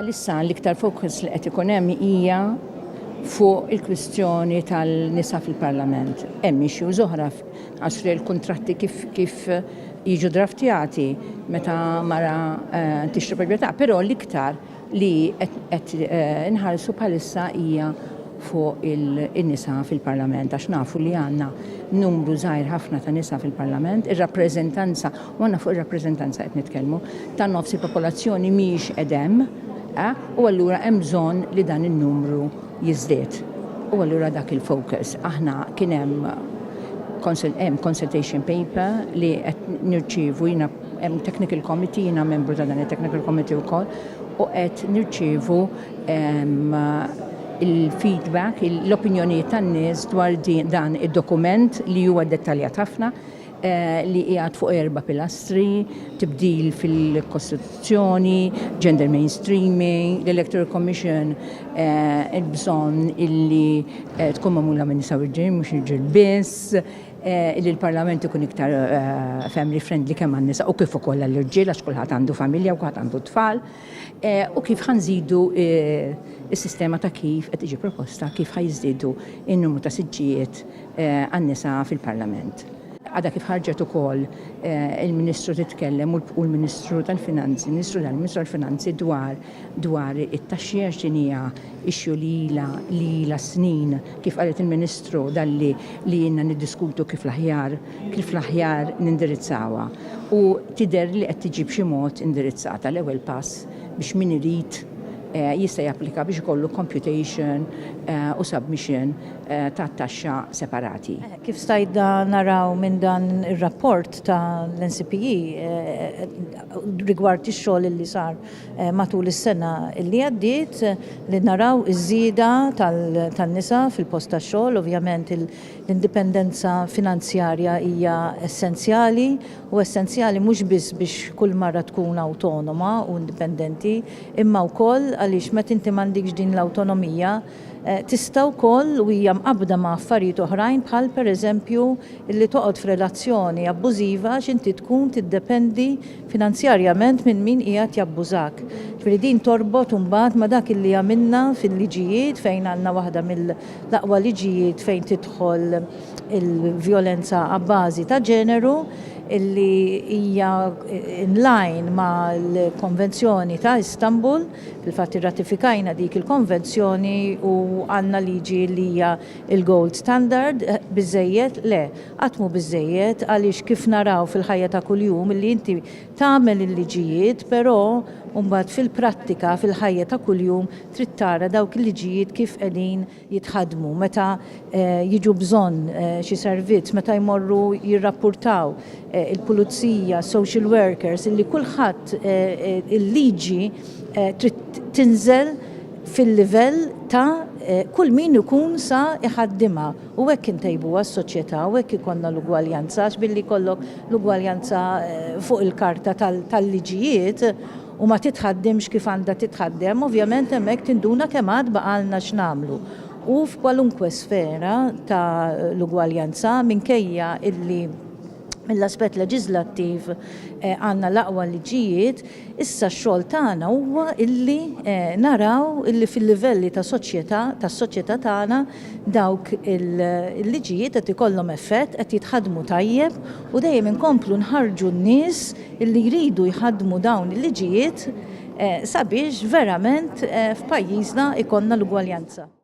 Bħalissa l-iktar fokus li qed ikun hemm hija fuq il-kwistjoni tal-nisa fil-Parlament. Hemm issues oħra għax il-kuntratti kif kif jiġu draftjati meta mara eh, tixtri proprjetà, però l-iktar li qed inħarsu bħalissa hija fuq in-nisa fil-Parlament għax nafu li għandna numru żgħir ħafna ta' nisa fil-Parlament, ir-rappreżentanza, u għandna fuq ir-rappreżentanza qed nitkellmu, ta' nofs il-popolazzjoni mhijiex qedem, eh, u allura hemm bżonn li dan in-numru jiżdied. U allura dak il-focus. Aħna kien hemm hemm consultation paper li qed nirċievu jiena Hemm technical committee, jiena membru ta' dan it-technical committee wkoll, u qed nirċievu ehm, il-feedback, l-opinjonijiet tan-nies dwar dan id-dokument li huwa dettaljat ħafna eh, li qiegħed fuq erba' pilastri, tibdil fil-Kostituzzjoni, gender mainstreaming, l-Electoral Commission eh, il-bżonn illi eh, tkun magħmula minn nisa u ġejn mhux irġiel biss, li l-Parlament ikun iktar family friendly kemm għan-nisa u kif ukoll għall-irġiel għax kulħadd għandu familja u kulħadd għandu tfal u kif ħanżidu is-sistema ta' kif qed tiġi proposta kif ħajżdiedu n-numru ta' siġġijiet għan-nisa fil-Parlament. Għadha kif ħarġet ukoll il-Ministru titkellem u l-Ministru tal-Finanzi, Ministru tal-Ministru tal-Finanzi dwar dwar it-taxxi għax din hija issue li ilha li ilha s-snin, kif qalet il-Ministru dalli li ilna niddiskutu kif l-aħjar kif l-aħjar nindirizzawha u tidher li qed tiġi b'xi mod indirizzata l-ewwel pass biex min irid jista' japplika biex ikollu computation u submission ta' taxxa separati. Kif stajtna naraw minn dan ir-rapport ta' l-NCPE rigward ix-xogħol illi sar matul is-sena li għaddiet li naraw iż-żieda tan-nisa fil-post tax-xogħol. Ovvjament l-indipendenza finanzjarja hija essenzjali u essenzjali mhux biss biex kull mara tkun awtonoma u indipendenti imma wkoll għaliex meta inti m'għandikx din l-awtonomija, Tista' wkoll, u hija mqabbda ma' affarijiet oħrajn bħal, pereżempju, illi toqgħod f'relazzjoni abbużiva għax inti tkun tiddependi finanzjarjament minn min qiegħed jabbużak. Ġifieri din torbot imbagħad ma' dak illi għamilna fil-liġijiet fejn għandna waħda mill-aqwa liġijiet fejn tidħol il-vjolenza abbażi ta' ġeneru illi hija in line mal-Konvenzjoni ta' Istanbul. Fil-fatt irratifikajna dik il-konvenzjoni u għandna liġi li hija l-gold standard. Biżżejjed? Le, qatt mhu biżżejjed għaliex kif naraw fil-ħajja ta' kuljum illi inti tagħmel il-liġijiet però mbagħad fil-prattika fil-ħajja ta' kuljum trid tara dawk il-liġijiet kif qegħdin jitħaddmu, meta jiġu bżonn xi servizz, meta jmorru jirrappurtaw, il-pulizija, social workers, illi kulħadd il-liġi trid tinżel fil-livell ta' kull min ikun sa jħaddimha u hekk intejbuha s-soċjetà u hekk ikollna l-ugwaljanza għax billi jkollok l-ugwaljanza fuq il-karta tal-liġijiet u ma titħaddimx kif għandha titħaddem, ovvjament hemmhekk tinduna kemm għad baqgħalna x'nagħmlu. U f'kwalunkwe sfera ta' l-ugwaljanza, minkejja illi mill-aspett leġiżlattiv għandna l-aqwa liġijiet, issa x-xogħol tagħna huwa illi naraw illi fil-livelli ta' soċjetà, tas-soċjetà tagħna, dawk il-liġijiet qed ikollhom effett, qed jitħaddmu tajjeb u dejjem inkomplu nħarrġu n-nies li jridu jħaddmu dawn il-liġijiet sabiex verament f'pajjiżna jkollna l-ugwaljanza.